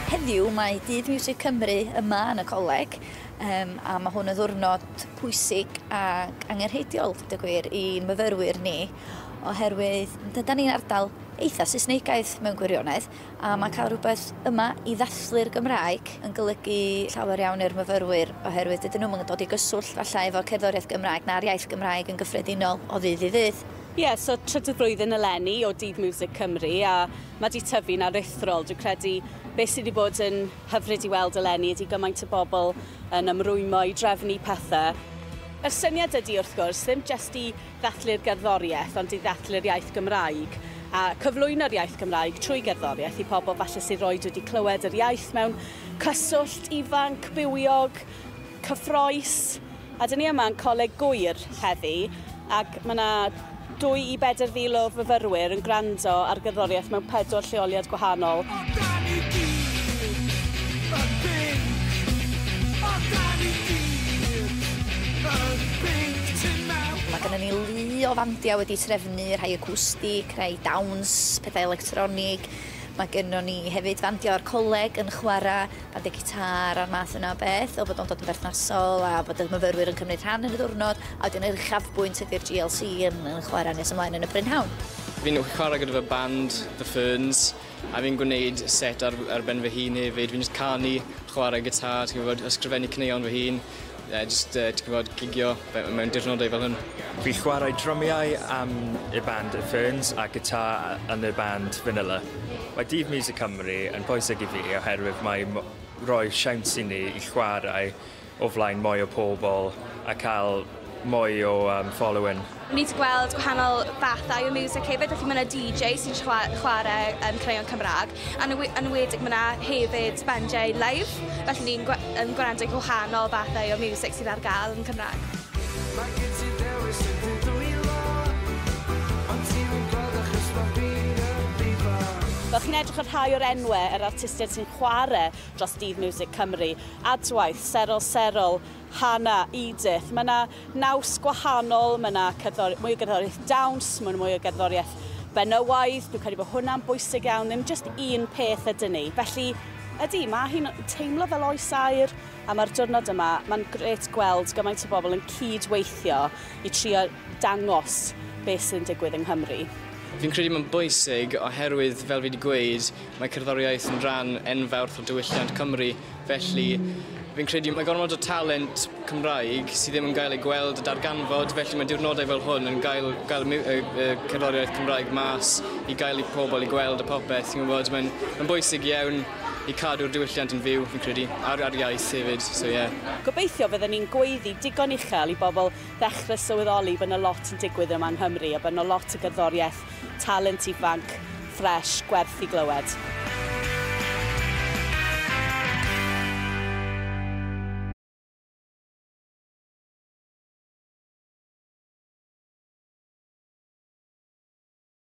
Heddiw mae Dydd Miwsig Cymru yma yn y coleg um, a mae hwn yn ddwrnod pwysig ac angenrheidiol, dweud y gwir, i myfyrwyr ni oherwydd dyda ni'n ardal eitha Saesneigaidd mewn gwirionedd A mae cael rhywbeth yma i ddathlu'r Gymraeg yn golygu llawer iawn i'r myfyrwyr oherwydd dydyn nhw'm yn dod i gyswllt falle efo cerddoriaeth Gymraeg na'r iaith Gymraeg yn gyffredinol o ddydd i ddydd. Ie, so trydydd blwyddyn eleni o Dydd Miwsig Cymru a mae 'di tyfu'n aruthrol. Dwi'n credu beth sydd 'di bod yn hyfryd i weld eleni ydi gymaint o bobl yn ymrwymo i drefnu pethe. Yr syniad ydi wrth gwrs ddim jyst i ddathlu'r gerddoriaeth ond i ddathlu'r iaith Gymraeg a cyflwyno'r iaith Gymraeg trwy gerddoriaeth i pobl falle sydd roed wedi clywed yr iaith mewn cyswllt ifanc, bywiog, cyffroes a dyn ni yma yn Coleg Gŵyr heddi ac mae yna dwy i bedr fil o fyfyrwyr yn gwrando ar gerddoriaeth mewn pedwar lleoliad gwahanol. Mae gynnon ni lu o fandia wedi trefnu, rhai acwstic, rhai dawns, pethau electronig. Mae gynnon ni hefyd fandia o'r coleg yn chwara' bandiau gitâr a'r math yna o beth, fel bod o'n dod yn berthnasol a bod y myfyrwyr yn cymryd rhan yn y ddiwrnod, a wedyn yr uchafbwynt ydi'r GLC yn yn chwara' nes ymlaen yn y prynhawn. Fi'n chwara' gyda fy band, The Ferns. A fi'n gwneud set ar ar ben fy hun hefyd fi'n jyst canu, chware gitâr ti'n gwbod ysgrifennu caneuon fy hun yy jyst yy ti'n gwbod gigio fe- yy mewn dirnodau fel hwn. Fi chwarae drymiau am y band y Ferns a gitâr yy yn y band Vanilla. Mae Dydd Miwsig Cymru yn bwysig i fi oherwydd mae mo- roi siawns i ni i chwarae o flaen mwy o pobl a cael mwy o um, following. Ni wedi gweld gwahanol fathau o music hefyd, felly mae yna DJ sy'n chwarae um, creion Cymraeg, a yn enwedig mae yna hefyd bandiau live, felly ni'n um, gwrando i gwahanol fathau o music sydd ar gael yn Cymraeg. Mae gen ti ddewis i dy dwylo, ond ti'n gwybod achos mae fi'n y bibo. Fel chi'n edrych ar rhai o'r enwau yr artistiaid sy'n chwarae dros Dydd Miwsig Cymru, Adwaith, Serol Serol, Hana, Edith. Mae yna naws gwahanol, mae yna cerddor, mwy o gerddoriaeth dawns, mae yna mwy o gerddoriaeth benywaidd, dwi'n credu bod hwnna'n bwysig iawn, ddim jyst un peth ydyn ni. Felly, ydy, mae hi'n teimlo fel oes air a mae'r diwrnod yma, mae'n gret gweld gymaint o bobl yn cyd-weithio i trio dangos beth sy'n digwydd yng Nghymru. Fi'n credu mae'n bwysig oherwydd, fel fi wedi gweud, Mae cerddoriaeth yn rhan enfawr o diwylliant Cymru, felly fi'n credu mae gormod o talent Cymraeg sydd ddim yn gael ei gweld a darganfod, felly mae diwrnodau fel hwn yn gael gael y miw- y y cerddoriaeth Cymraeg mas i gael i pobl i gweld a popeth, ti'n gwybod, mae'n mae'n bwysig iawn i cadw'r diwylliant yn fyw, fi'n credu, a'r a'r iaith hefyd, so ie. Gobeithio fydden ni'n gweiddi digon uchel i bobl ddechrau sylweddoli bod 'na lot yn digwydd yma yng Nghymru a bod 'na lot o gerddoriaeth Talent ifanc, ffresh, gwerth i glywed.